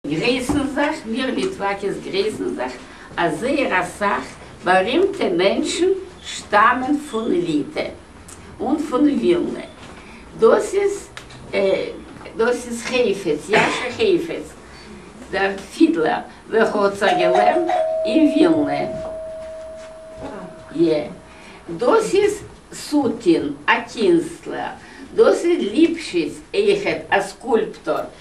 גרייסן זיך, מיר ליטוואקעס גרייסן זיך אז זייער אסאך בארימטע מענטשן שטאמען פון ליטע און פון ווילנע, דאס איז דאס איז חפץ, יאשע חפץ דער פידלער, וועלכער האט זיך געלערנט אין ווילנע, י. דאס איז סוטין, א קינסטלער, דאס איז ליפשיץ, עכת, א סקולפטור.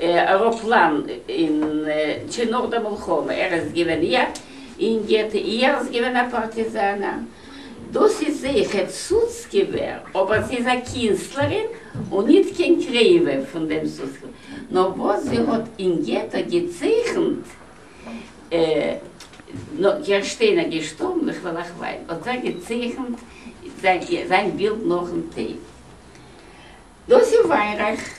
עראפלאן אין צו נאך די מלחמה ער איז געווען איא אין געטא איא ער איז געווען א פארטיזאנער דאס איז זעכע סוצקעווער אבער זי איז א קינסטלערין און ניט קיין קרעווע פון דעם סוצקעווער נאר וואס זי האט אין געטא געצייכנט נו גערשטענער געשטארבן איך וועל אייך וויין האט ער געצייכנט זיין בילד נאכן טויט דאס איז וויינרייך.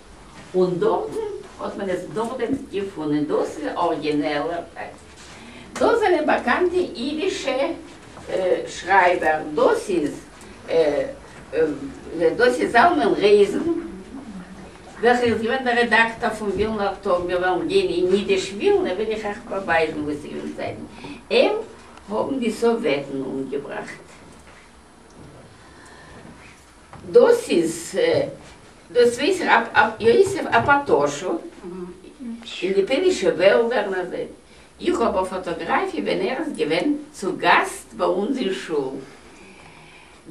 און דארטן האט מען עס נאכדעם געפונען. דאס איז א ארגינעלער טעקסט. דאס זענען באקאנטע אידישע שרייבער. דאס איז דאס איז זלמן רייזן וועלכער איז געווען דער רעדאקטאר פון ווילנער טאג. מיר וועלן גיין אין אידיש ווילנע וועל איך אייך באווייזן וואס איז געווען זייט אים האבן די סאוועטן אומגעבראכט. דאס איז דאס ווייס איך אב אב יוסף א פאטאשו אין די פוילישע וועלדער נאך דעם איך האב א פאטאגראפיע ווען ער איז געווען צו גאסט ביי אונז אין שול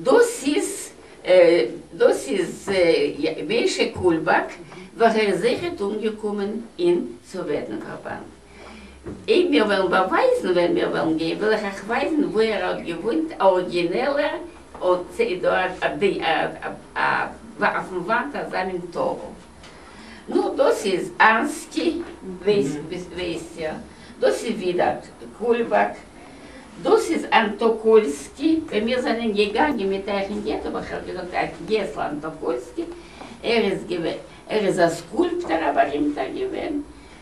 דאס איז דאס איז משה קולבאק וועלכער איז זעכער אומגעקומען אין סאוועטן פארבאנד. אייב מיר וועלן באווייזן ווען מיר וועלן גיין וועל איך אייך ווייזן וואו ער האט געוואוינט א ארגינעלער אויפן וואנט אזא מין טאוול נו דאס איז אנסקי ווייסט איר דאס איז ווידער קולבאק דאס איז אנטאקולסקי ווען מיר זענען געגאנגען מיט אייך אין געטא וואלט איך אייך געזאגט אייך געסל אנטאקולסקי ער איז געווען ער איז א סקולפטער א בארימטער געווען